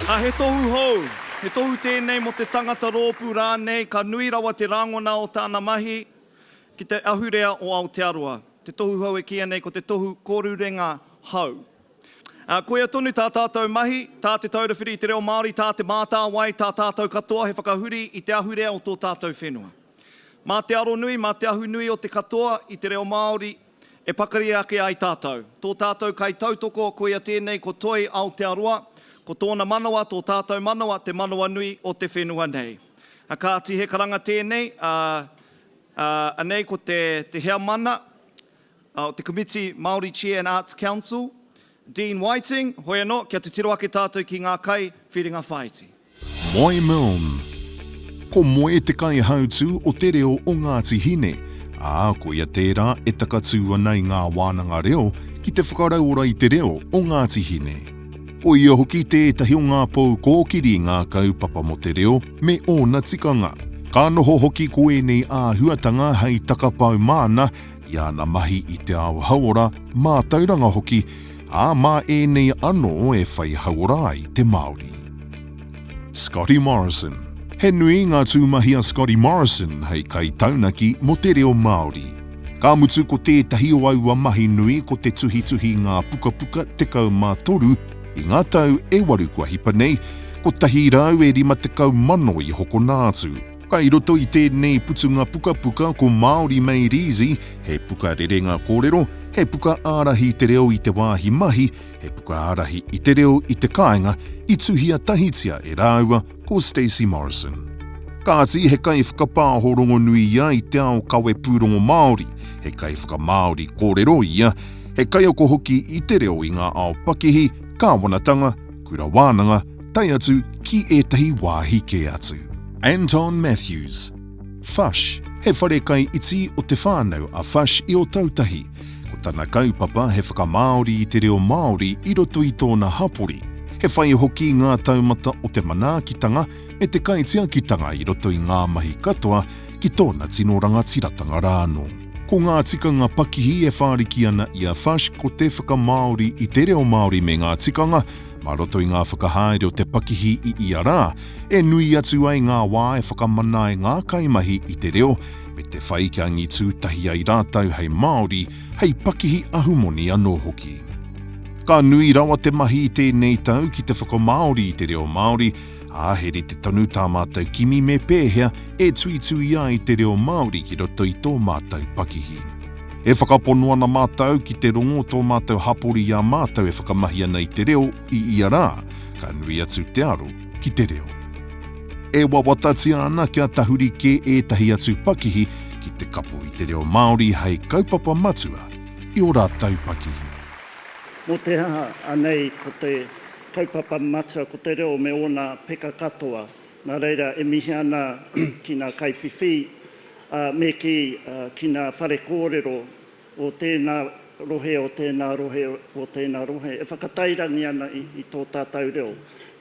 Ā, he tohu hou, he tohu tēnei mō te tangata rōpū rānei ka nui rawa te rāngona o tāna mahi ki te ahurea o Aotearoa. Te tohu hou e kīia nei ko te tohu kōrurenga hou. Ā, koia tonu tā tātou mahi, tā Te Taura Whiri i te Reo Māori, tā Te Mātāwai, tā tātou katoa he whakahuri i te ahurea o tō tātou whenua. Mā te aro nui, mā te ahu nui o te katoa i te reo Māori E pakari ake ai tātou. Tō tātou kaitautoko, koia tēnei ko Toi Aotearoa, ko tōna manawa tō tātou manawa te manawa nui o te whenua nei. A kāti he karanga tēnei, a, a, anei ko te, te heamana, a, o te komiti Māori Chair and Arts Council, Dean Whiting, hoi anō, kia titiro ake tātou ki ngā kai whiringa whāiti. Moe Milne. Ko Moe te kaihautū o te reo o Ngāti Hine, ā, ko ia tērā e takatū ana i ngā wānanga reo ki te whakarauora i te reo o Ngāti Hine. Ko ia hoki tētahi o ngā pou kōkiri ngākau papa mō te reo me ōna tikanga. Ka noho hoki ko ēnei āhuatanga hei takapau māna i āna mahi i te ao hauora, mātauranga hoki, ā, mā ēnei anō e whai hauora ai te Māori. Scotty Morrison He nui ngā tūmahi a Scotty Morrison hei kaitaunaki mō te reo Māori. Ka mutu ko tētahi o aua mahi nui ko te tuhituhi ngā pukapuka 13 i ngā tau e waru kua hipa nei, 150 i hokona atu. Kai roto i tēnei putunga pukapuka ko Māori Made Easy, he puka rerenga kōrero, he puka ārahi i te reo i te wāhi mahi, he puka ārahi i te reo i te kāinga, i tuhia tahitia e rāua ko Stacey Morrison. Kāti, he kaiwhakapāho rongonui ia i te ao kawepūrongo Māori, he kaiwhakamāori kōrero ia, he kaiako hoki i te reo i ngā ao pakihi, kāwanatanga, Kura Wānanga, tae atu ki ētahi wāhi kē atu. Anton Matthews. Fush, he whare kai iti o te whānau a Fush i Ōtautahi. Ko tana kaupapa he whakamāori i te reo Māori i roto i tōna hapori. He whai hoki ngā taumata o te manaakitanga me te kaitiakitanga i roto i ngā mahi katoa ki tōna tino rangatiratanga rānō. Ko ngā tikanga pakihi e whāriki ana i a Fush ko te whakamāori i te reo Māori me ngā tikanga mā roto i ngā whakahaere o te pakihi i ia rā, e nui atu ai ngā wā e whakamana ai ngā kaimahi i te reo me te whai kia angitū tahi ai rātou hei Māori, hei pakihi ahumoni anō hoki. Ka nui rawa te mahi i tēnei tau ki te whakamāori i te reo Māori, ā, he rite tonu tā mātou kimi me pēhea e tuitui ai te reo Māori ki roto i tō mātou pakihi. E whakapono ana mātou ki te rongo o tō mātou hapori i a mātou e whakamahi ana i te reo i ia rā, ka nui atu te aro ki te reo. E wawatatia ana kia tahuri kē ētahi atu pakihi ki te kapo i te reo Māori hei kaupapa matua i ō rātou pakihi. Mō te aha anei ko te. Kaupapa matua ko te reo me ōna peka katoa. Nā reira, e mihi ana ki ngā kaiwhiwhi, ā, me kī, ki ngā whare kōrero o tēnā rohe, o tēnā rohe, o tēnā rohe, e whakatairangi ana i, i tō tātou reo.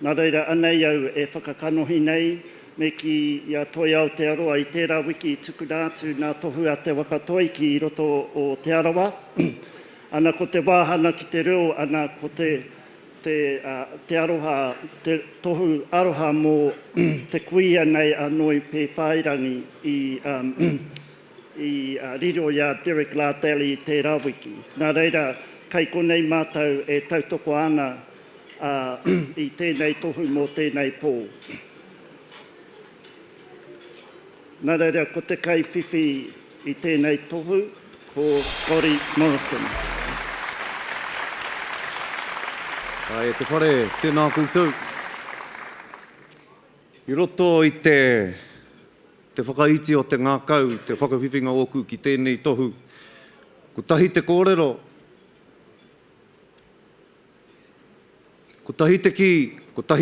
Nā reira, anei au e whakakanohi nei, me kī, i a Toi Aotearoa, i tērā wiki i tukuna atu nā Tohu a Te Waka Toi ki roto o Te Arawa, ana ko te wāhanga ki te reo, ana ko te. te aroha, te tohu aroha mō te kuia nei a Noi Pēwhairangi i riro i a Derek Lardelli i tērā wiki. Nā reira, kei konei mātou e tautoko ana i tēnei tohu mō tēnei pō. Nā reira, ko te kaiwhiwhi I tēnei tohu ko Scotty Morrison. Tae e te whare, tēnā koutou. I roto i te, te whakaiti o te ngākau, te whakawhiwhinga ōku ki tēnei tohu, kotahi te kōrero, kotahi te kī, kotahi